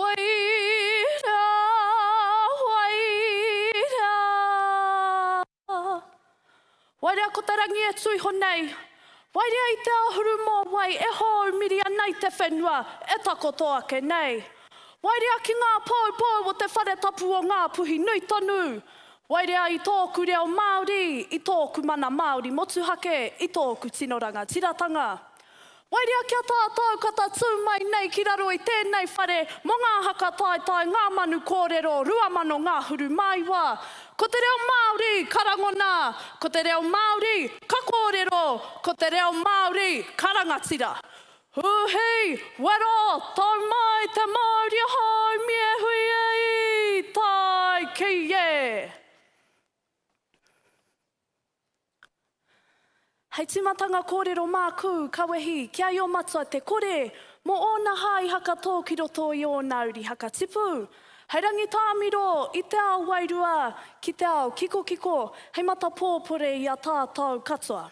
Whaira, whaira Wairea ko te rangi e tuiho nei Wairea i te āhuru mō wai e hou miri ana i te whenua e takoto ake nei Wairea ki ngā poupou o te whare tapu o Ngā Puhi Nui Tonu Wairea i tōku reo Māori, i tōku mana Māori motuhake, i tōku tino rangatiratanga Wairua kia tātau ka tatū mai nei ki raro i tēnei whare mō ngā haka taetae Ngā Manu Kōrero 2000 Ngāhuru Māiwa. Ko te reo Māori ka rangona, ko te reo Māori ka kōrero, ko te reo Māori ka rangatira. Huhi! Wero! Tau mai te mauri ahau mie hui e i! Tae ki e! Hei tīmatanga kōrero māku, ka wehi, ki a Io Matua te kore, mō ōna hā i hakatō ki roto i ōna uri hakatipu. Hei rangitāmiro i te ao wairua ki te ao kikokiko, hei matapōpore i a tātou katoa.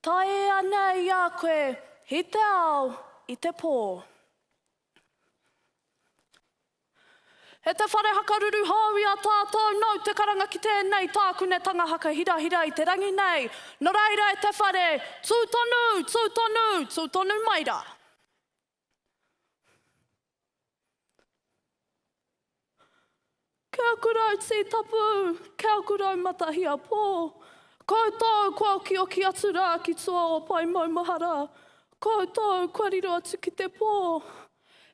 Tae ēa nei i a koe, i te ao, i te pō. E te whare hakaruru hou i a tātou, nau te karanga ki tēnei tākunetanga hakahirahira i te rangi nei, nō reira e te whare, tū tonu, tū tonu, tū tonu mai rā. Ke aku rau tī tapu, ke aku rau matahia pō, koutou kua okioki atu rā ki tua o Pai Maumahara, koutou kua riro atu ki te pō.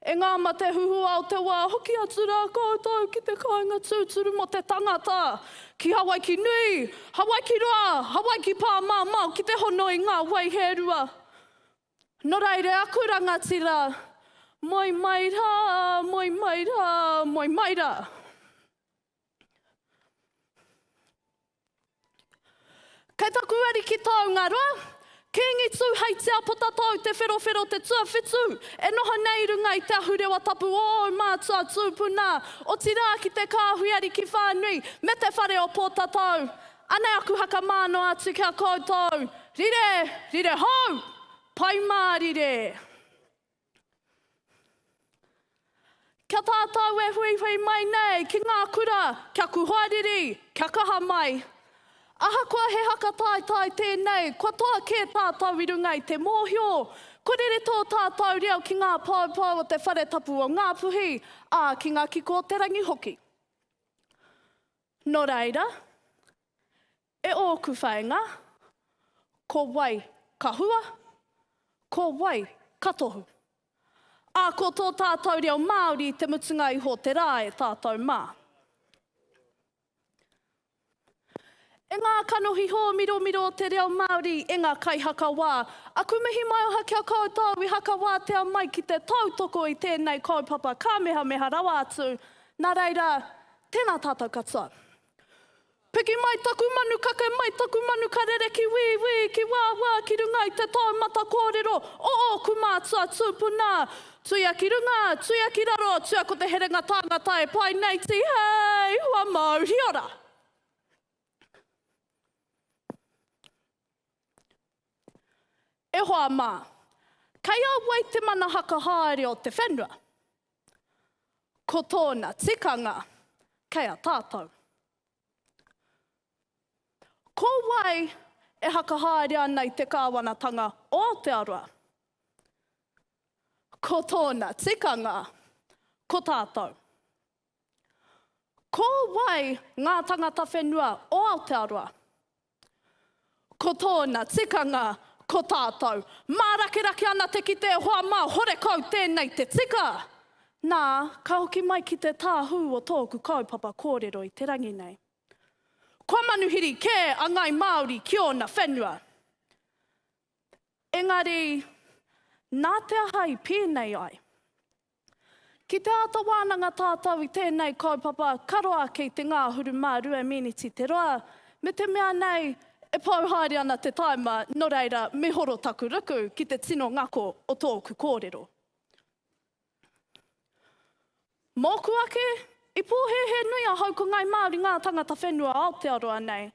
E ngā mate huhua o te wā, hoki atu rā koutou ki te kāinga tūturu mō te tangata, ki Hawaiki nui, Hawaiki roa, Hawaiki pāmamao ki te hono i ngā wai hērua. No reira aku rangatira, moe mai ra, moe mai ra, moe mai ra. Kei taku ariki taungaroa, Kingi tu hei tia potatau te wherowhero te tuawhitu, e noho nei i runga i te ahurewa tapu o ou mātua tūpuna, otirā ki te kāhui ariki whānui, me te whare o Pōtatau. Anei aku haka mā noa atu ki a koutou, Rire, rire hou! Pai mārire! Kia tātou e huihui mai nei ki ngā kura kia kuhariri, kia kaha mai. Ahakoa he haka taetae tēnei, kua toa kē tātou i runga i te mōhio, kua rere tō tātou reo ki ngā poupou o te Whare Tapu o Ngā Puhi, ā, ki ngā kiko o te rangi hoki. Nō reira, e ōku whāinga, ko wai ka hua, ko wai ka tohu? Ā, ko tō tātou reo Māori te mutunga iho o te rā e tātou mā. E ngā kanohi hōmiromiro o te reo Māori, e ngā kaihakawā, aku mihi maioha ki a koutou i hakawātea mai ki te tautoko i tēnei kaupapa kāmehameha rawa atu, nā reira, Tēnā tātou katoa. Piki mai taku manu, kake mai taku manu ka rere ki wī wī, ki wā wā, ki runga i te taumata kōrero o ōku mātua tūpuna. Tuia ki runga, tuia ki raro, tuia ko te herenga tāngata e pai nei Tihei! Hua Mauriora! E hoa mā, kei a wai te mana haka haere o te whenua? Ko tōna tikanga kei a tātou. Ko wai e whakahaere ana i te kāwanatanga o Aotearoa? Ko tōna tikanga ko tātou. Ko wai ngā tangata whenua o Aotearoa? Ko tōna tikanga, ko tātou. Mārakerake ana te kite e hoa mā, horekau tēnei te tika! Nā, ka hoki mai ki te tāhū o tōku kaupapa kōrero i te rangi nei. Kua manuhiri kē a Ngāi Māori ki ōna whenua. Engari, nā te aha i pēnei ai? Ki te āta wānanga tātou i tēnei kaupapa, ka roa ake i te ngāhuru mā rua mīniti te roa, me te mea nei, e pau haere ana te taima, nō reira, mihoro taku ruku ki te tino ngako o tōku kōrero. Mōku ake, i pōhēhē nui ahau ko Ngāi Māori ngā tangata whenua Aotearoa nei.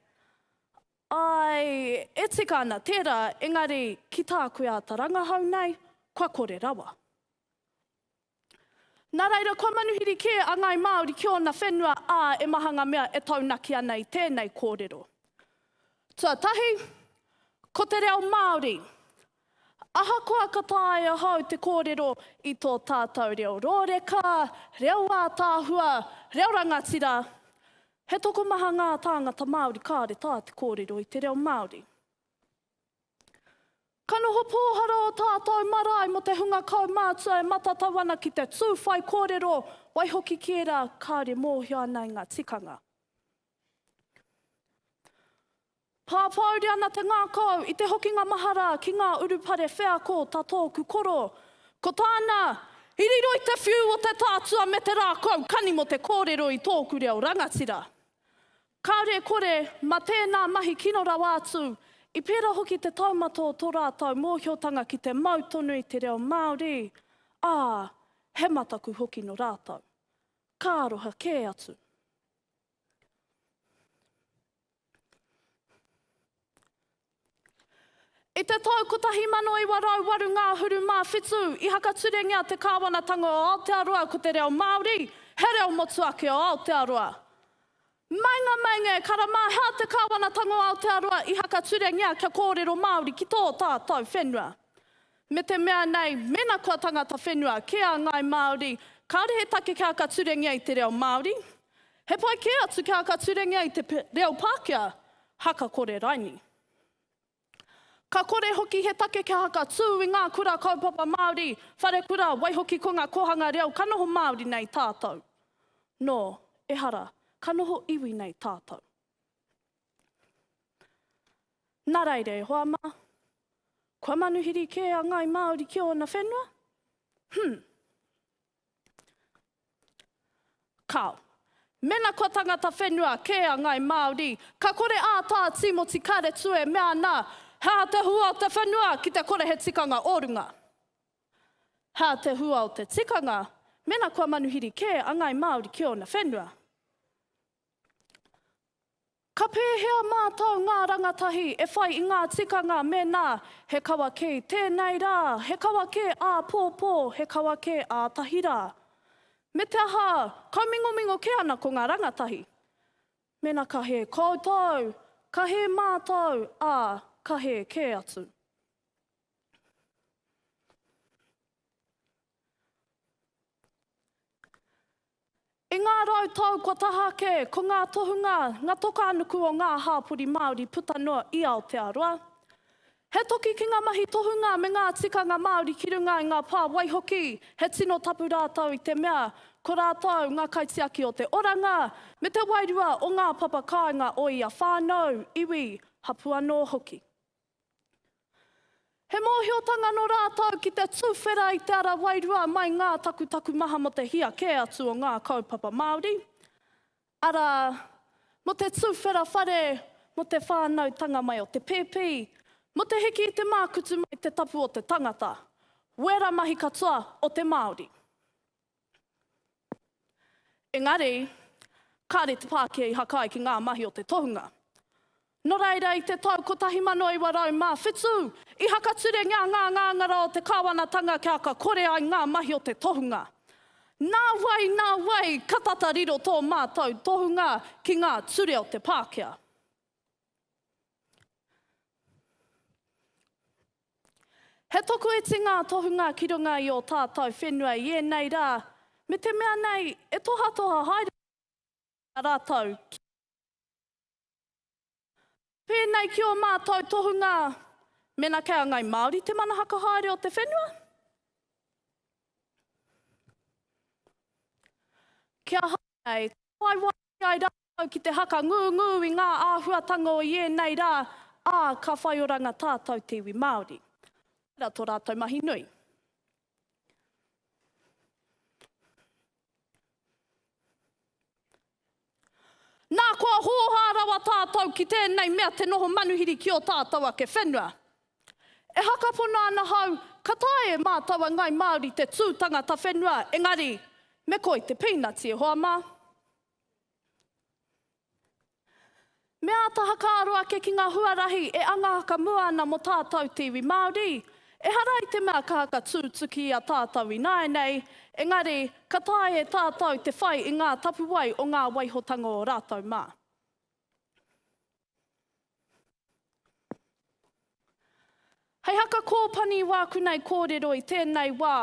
Āe, e tika ana tērā, engari, ki tāku āta rangahau nei, kua kore rawa. Nā reira, kua manuhiri kē a ngāi Māori ki ōna whenua, ā, e maha ngā mea e taunaki ana i tēnei kōrero. Tuatahi, ko te reo Māori. Ahakoa ka taea ahau te kōrero i tō tātou reo rōreka, reo ātaahua, reo rangatira, he tokomaha ngā tāngata Māori kāore tā te kōrero i te reo Māori. Ka noho pōhara ō tātou marae mō te hunga kaumātua e matatau ana ki te tū whaikōrero, waihoki ki ērā kāore mōhio ana i ngā tikanga. Pāpāuri ana te ngākau i te hokinga mahara ki ngā urupare wheako tā tōku koro, ko tāna, I riro i te whiu o te tātua me te rākau kani mō te kōrero i tōku reo rangatira. Kāore e kore, mā tēnā mahi kino rawa atu, i pērā hoki te taumata o tō rātou mōhiotanga ki te mau tonu i te reo Māori, ā, he mataku hoki nō rātou. Ka aroha kē atu. I te tau 1908 ngahuru mā whitu, i hakaturengia te Kāwanatanga o Aotearoa ko te reo Māori he reo motuake o Aotearoa. Meinga, meinga e karama, hea te Kāwanatanga o Aotearoa i hakaturengia kia kōrero Māori ki tō tātou whenua. Me te mea nei, mēnā kua tangata whenua kē a ngāi Māori, kāore he take kia aka turengia i te reo Māori. He pai kē atu kia aka turengia i te reo Pākehā, haka kore raini. Ka kore hoki he take kia haka tū i ngā kura kaupapa Māori, wharekura, waihoki ko ngā kōhanga reo ka noho Māori nei tātou. Nō, ehara, ka noho iwi nei tātou. Nā reira e hoa mā, kua manuhiri kē a Ngāi Māori ki ōna whenua? Hum. Kāo. Mēnā kua tangata whenua kē a Ngāi Māori, ka kore ā Tā Tīmoti Karetu e mea ana, He aha te hua o te whenua ki te kore he tikanga o runga? He aha te hua o te tikanga mēnā kua manuhiri kē a Ngāi Māori ki ōna whenua? Ka pēhea mātou ngā rangatahi e whai i ngā tikanga mēnā he kawa kē tēnei rā, he kawa kē āpōpō, he kawa kē ātahi rā? Me te aha, kaumingomingo kē ana ko ngā rangatahi. Mēnā ka hē koutou, ka hē mātou, ā, ka hē kē atu. I ngā rau tau kua taha ake, ko ngā tohunga nga tokānuku o ngā hāpori Māori puta noa i Aotearoa. He toki ki ngā mahi tohunga me ngā tikanga Māori ki runga i ngā pā waihoki, he tino tapu rātou i te mea, ko rātou ngā kaitiaki o te oranga me te wairua o ngā papa kāinga o ia whānau, iwi, hapū anō hoki. He mōhiotanga nō rātou ki te tuwhera i te ara wairua mai ngā takutaku maha mō te hia kē atu o ngā kaupapa Māori, arā, mō te tuwhera whare, mō te whānautanga mai o te pēpi, mō te hiki i te mākutu mai te tapu o te tangata, wēra mahi katoa o te Māori. Engari, kāre te Pākehā i hakai ki ngā mahi o te tohunga. Nō reira, i te tau 1907, i hakaturengia ngā ngāngara o te kāwanatanga kia aka kore ai ngā mahi o te tohunga. Nā wai, nā wai, ka tata riro tō mātou tohunga ki ngā ture o te Pākehā. He toku iti ngā tohunga ki runga i ō tātou whenua i ēnei rā, me te mea nei e tohatoha haere ana ki a rātou ki te whakatau. Pēnei ki ō mātou tohunga, mēnā kei a Ngāi Māori te mana whakahaere o te whenua, kia haere nei, ka whai wāhi Kī ai rātou ki te haka ngūngū i ngā āhuatanga o ienei rā, ā, ka whai oranga tātou te iwi Māori. Tērā tō rātou mahi nui. Nā, kua hōhā rawa tātou ki tēnei mea te noho manuhiri ki ō tātou ake whenua. E hakapono ana hau, ka taea e mātou a Ngai Māori te tū tangata whenua, engari, me koi te pīnati e hoa mā. Me āta hakaaro ake ki ngā huarahi e anga haka mua ana mō tātou te iwi Māori. Ehara i te mea ka haka tūtuki i a tātou ināianei, engari, ka taea e tātou te whai i ngā tapuwae o ngā waihotanga o rātou mā. Hei haka kōpani i wākunei kōrero i tēnei wā,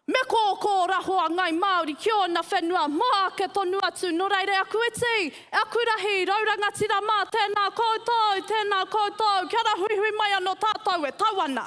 Me kōkō raho a Ngai Māori ki ōna whenua mō ake tonu atu, nō reira e aku iti, e aku rahi, rau rangatira mā, tēnā koutou, tēnā koutou, kia ra huihui mai anō tātou e tau ana.